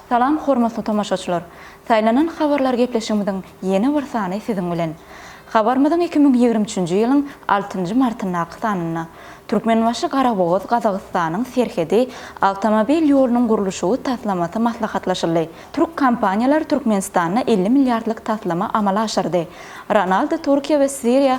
Salam hormatly tomaşaçylar! Saýlanan habarlar gepleşigimiziň ýene bir sany siziň bilen. Habarymyzyň iki müň ýigrimi üçünji ýylyň altynjy martyndaky sanynda Türkmenbaşy Garabogaz Gazagystanyň serhedi awtomobil ýolunyň gurluşygy taslamasy maslahatlaşyldy. Türk kompaniýalary Türkmenistanda elli milliardlyk taslama amala aşyrdy. Ronaldo Türkiýe we Siriýa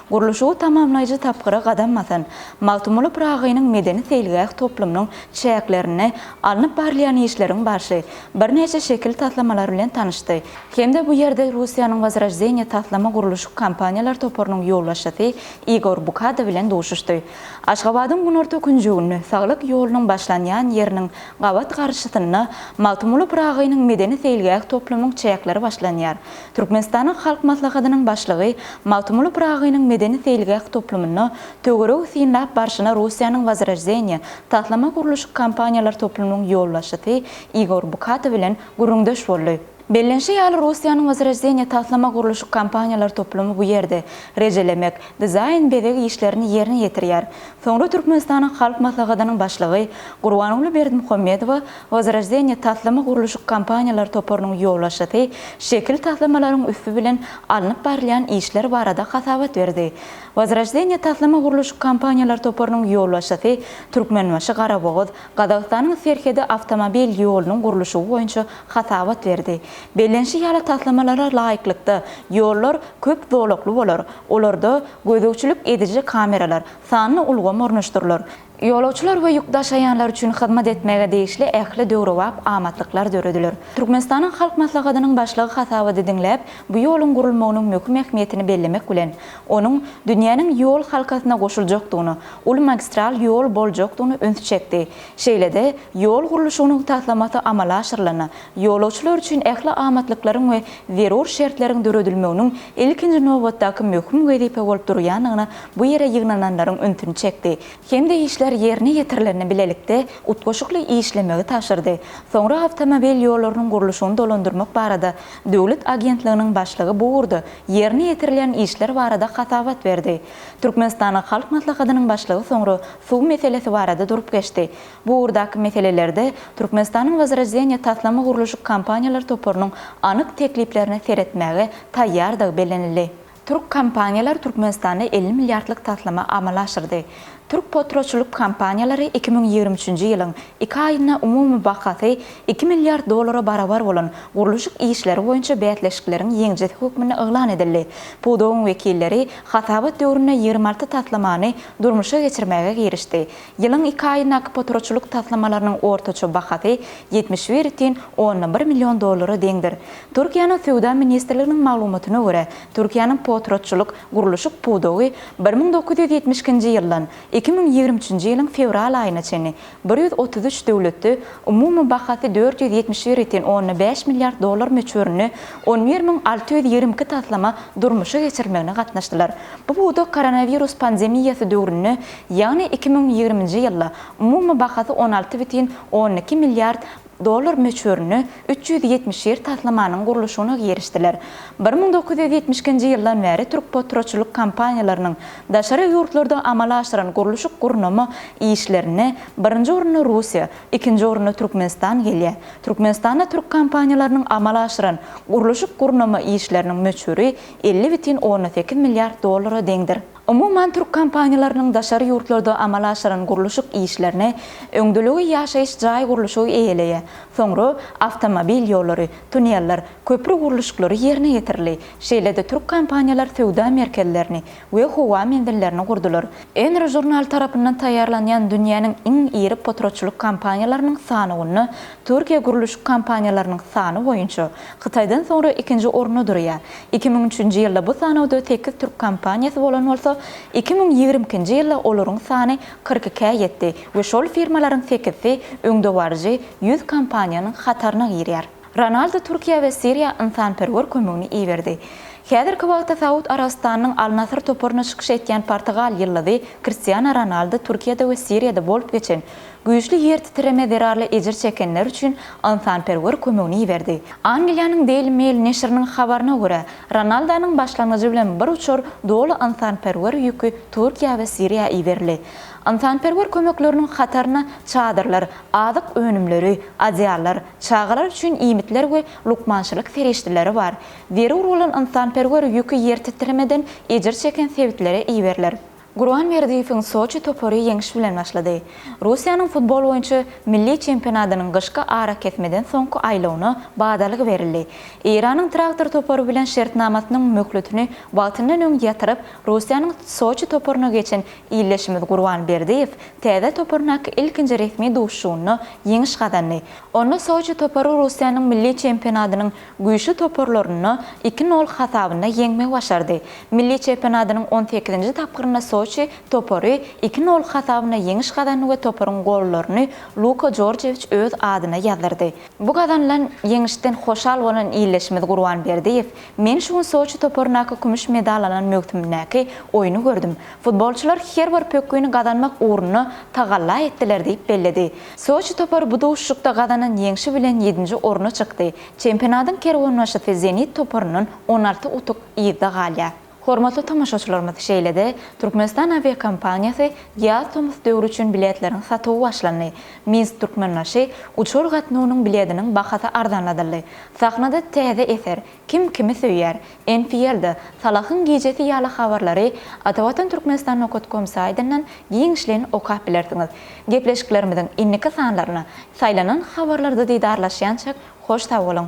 Gurluşygy tamamlaýjy tapgyra gadam basan Magtymguly Pyragynyň medeni-seýilgäh toplumynyň çäklerinde alnyp barylýan işleriň barşy, birnäçe şekil taslamalary bilen tanyşdy hem-de bu ýerde Russiýanyň Wozroždeniýe taslama-gurluşyk kompaniýalar toparynyň ýolbaşçysy Igor Bukada bilen duşuşdy. Aşgabadyň günorta künjeginde, Saglyk ýolunyň başlanýan ýeriniň gabat garşysynda Magtymguly Pyragynyň medeni-seýilgäh toplumyň çäkleri başlanýar. Türkmenistanyň Halk Maslahatynyň Başlygy Magtymguly Pyragynyň medeni-seýilgäh toplumynda töweregi synlap barşyna Russiýanyň Wozroždeniýe taslama gurluşyk kompaniýalar toplumynyň ýolbaşçysy Igor Bukata bilen gürrüňdeş boldy. Bellenişi ýaly, Russiýanyň Wozroždeniýe taslama gurluşyk kompaniýalar toplumy bu ýerde rejelemek, dizaýn, bezeg işlerini ýerine ýetirýär. Soňra Türkmenistanyň Halk Maslahatynyň Başlygy Gurbanguly Berdimuhamedowa Wozroždeniýe taslama-gurluşyk kompaniýalar toparynyň ýolbaşçysy şekil taslamalaryň üsti bilen alnyp barylýan işler barada hasabat berdi. Wozroždeniýe taslama-gurluşyk kompaniýalar toparynyň ýolbaşçysy Türkmenbaşy-Garabogaz, Gazagystanyň serhedi awtomobil ýolunyň gurluşygy boýunça hasabat berdi. Bellenişi ýaly, taslamalara laýyklykda, ýollar köp zolakly bolar, olarda gözegçilik ediji kameralar, sanly ulgam ornaşdyrylar. Ýolagçylar we ýük daşaýanlar üçin hyzmat etmäge degişli ähli döwrebap amatlyklar dörediler. Türkmenistanyň Halk Maslahatynyň Başlygy hasabaty diňläp, bu ýoluň gurulmagynyň möhüm ähmiýetini bellemek bilen, onuň dünýäniň ýol halkasyna goşuljakdygyna, uly magistral ýol boljakdygyna ünsi çekdi. Şeýle-de, ýol gurluşygynyň taslamasy amala aşyrylanda, ýolagçylar üçin ähli amatlyklaryň we zerur şertleriň döredilmeginiň ilkinji nobatdaky möhüm wezipe bolup durýandygyna bu ýere ýygnananlaryň ünsüni çekdi hem-de işler ýerine ýetirilende bilelikde utgaşykly işlemegi tabşyrdy. Soňra awtomobil ýollarynyň gurluşygyny dolandyrmak barada döwlet agentliginiň başlygy bu ugurda ýerine ýetirilýän işler barada hasabat berdi. Türkmenistanyň Halk Maslahatynyň başlygy soňra suw meselesi barada durup geçdi. Bu ugurdaky meselelerde Türkmenistanyň Wozroždeniýe taslama gurluşyk kompaniýalar toparynyň anyk tekliplerine seretmäge taýýardygy bellenildi. Türk kompaniýalary Türkmenistanda elli milliardlyk taslama amala aşyrdy. Türk potratçylyk kompaniýalary iki müň ýigrimi üçünji ýylyň iki aýynda umumy bahasy iki milliard dollara barabar bolan gurluşyk işleri boýunça bäsleşikleriň ýeňijisi hökmünde yglan edildi. Pudagyň wekilleri hasabat döwründe ýigrimi alty taslamany durmuşa geçirmäge girişdi. Ýylyň iki aýyndaky poturaçylyk taslamalarynyň ortaça bahasy ýetmiş bir ütin onndan bir million dollara deňdir. Türkiýäniň Söwda ministrliginiň maglumatyna görä, Türkiýäniň poturaçylyk, gurluşyk pudagy bir müň dokuz ýüz ýetmiş ikinji ýyldan iki müň ýigrimi üçünji ýylyň fewral aýyna çenli bir ýüz otuz üç döwletde umumy bahasy dört ýüz ýetmiş bir ütin onndan bäş milliard dollar möçberinde on bir müň alty ýüz ýigrimi iki taslama durmuşa geçirilmegine gatnaşdylar. Bu pudak koronawirus pandemiýasy döwründe Ýagny iki müň ýigriminji ýylda umumy bahasy on alty bütin on iki milliard dollar möçberinde üç ýüz ýetmiş ýer taslamanyň gurluşygyna girişdiler. Bir müň dokuz ýüz ýetmiş ikinji ýyldan bäri türkpotratçylyk kompaniýalarynyň daşary ýurtlarda amala aşyran gurluşyk-gurnama işlerinde birinji orunda Russiýa, ikinji orunda Türkmenistan gelýär. Türkmenistanda türk kompaniýalarynyň amala aşyran gurluşyk-gurnama işleriniň möçberi elli bütin on sekiz milliard dollara deňdir. Umuman, türk kompaniýalarynyň daşary ýurtlarda amala aşyran gurluşyk işlerine, öňdeligi ýaşaýyş jaý gurluşygy eýeleýär, soňra awtomobil ýollary, tuneller, köpri gurluşyklary ýerine ýetirildi. Şeýle-de türk kompaniýalar söwda merkezlerini we howa menzillerini gurdular. Enro žurnaly tarapyndan taýýarlanýan dünýäniň iň iri potratçylyk kompaniýalarynyň sanawynda Türkiýe gurluşyk kompaniýalarynyň sany boýunça Hytaýdan soňra ikinji orunda durýar. Iki müň üçünji ýylda bu sanawda sekiz türk kompaniýasy bolan bolsa, iki müň ýigrimi ikinji ýylda olaryň sany kyrk ikä ýetdi we şol firmalaryň sekizisi öňdebaryjy ýüz kompaniýanyň hataryna girýär. Ronaldu Türkiýä we Siriýa ynsanperwer kömegini iberdi. Häzirki wagtda Saud Arabystanynyň Al-Nasr toparyna çykyş etýän portugal ýyldyzy Kristiano Ronaldu Türkiýede we Siriýada bolup geçen Güýçli ýertitreme zerarly ejir çekenler üçin ynsanperwer kömegini iberdi. Angliýanyň Daily Mail neşiriniň habaryna görä, Ronaldanyň başlangyjy bilen bir uçar doly ynsanperwer ýüki Türkiýä we Siriýa iberildi. Ynsanperwer kömekleriniň hataryna çadyrlar, azyk önümleri, adyallar, çagalar üçin iýmitler we lukmançylyk serişdeleri bar. Zerur bolan ynsanperwer ýüki ýertitremeden ejir çeken sebitlere iberiler. Gurban Berdiýewiň Soçi topary ýeňiş bilen başlady. Russiýanyň futbol boýunça milli çempionatynyň gyşky arakesmeden soňky aýlawyna badalga berildi. Eýranyň Traktor topary bilen şertnamasynyň möhletini wagtyndan öň ýatyryp, Russiýanyň Soçi toparyna geçen ildeşimiz Gurban Berdiýew täze toparyndaky ilkinji resmi duşuşygynda ýeňiş gazandy. Onda Soçi topary Russiýanyň milli çempionatynyň güýçli toparlaryny iki nol hasabynda ýeňmegi başardy. Milli çempionatynyň on sekizinji tapgyrynda Soçi topary iki nol hasabynda ýeňiş gazandy we toparyň gollaryny Luka Jorjewiç öz adyna ýazdyrdy. Bu gazanylan ýeňişden hoşal bolan ildeşimiz Gurban Berdiýew, Men şu gün Soçi toparyndaky kümüş medal alan möwsümindäki oýny gördüm. Futbolçylar her bir pökgini gazanmak ugrunda tagalla etdiler diýip belledi. Soçi topary bu duşuşykda gazanan ýeňşi bilen ýedinji orna çykdy. Çempionatyň kerwenbaşysy Zenit toparyndan on alty utuk yzda galýar. Hormatly tomaşaçylarymyz, şeýle-de Türkmenistan awiakompaniýasy ýaz tomus döwri üçin biletleriň satuwy başlandy. Minsk Türkmenbaşy uçar gatnawynyň bilediniň bahasy arzanladyldy. Sahnada täze eser, Kim kimi söýýär? Enfield-a, Salahyň gijesi ýaly habarlary Atavatan Turkmenistan Nokat kom saýdyndan giňişleýin okap bilersiňiz. Gepleşiklerimiziň indiki sanlaryna saýlanan habarlarda didarlaşýançak hoş sag boluň!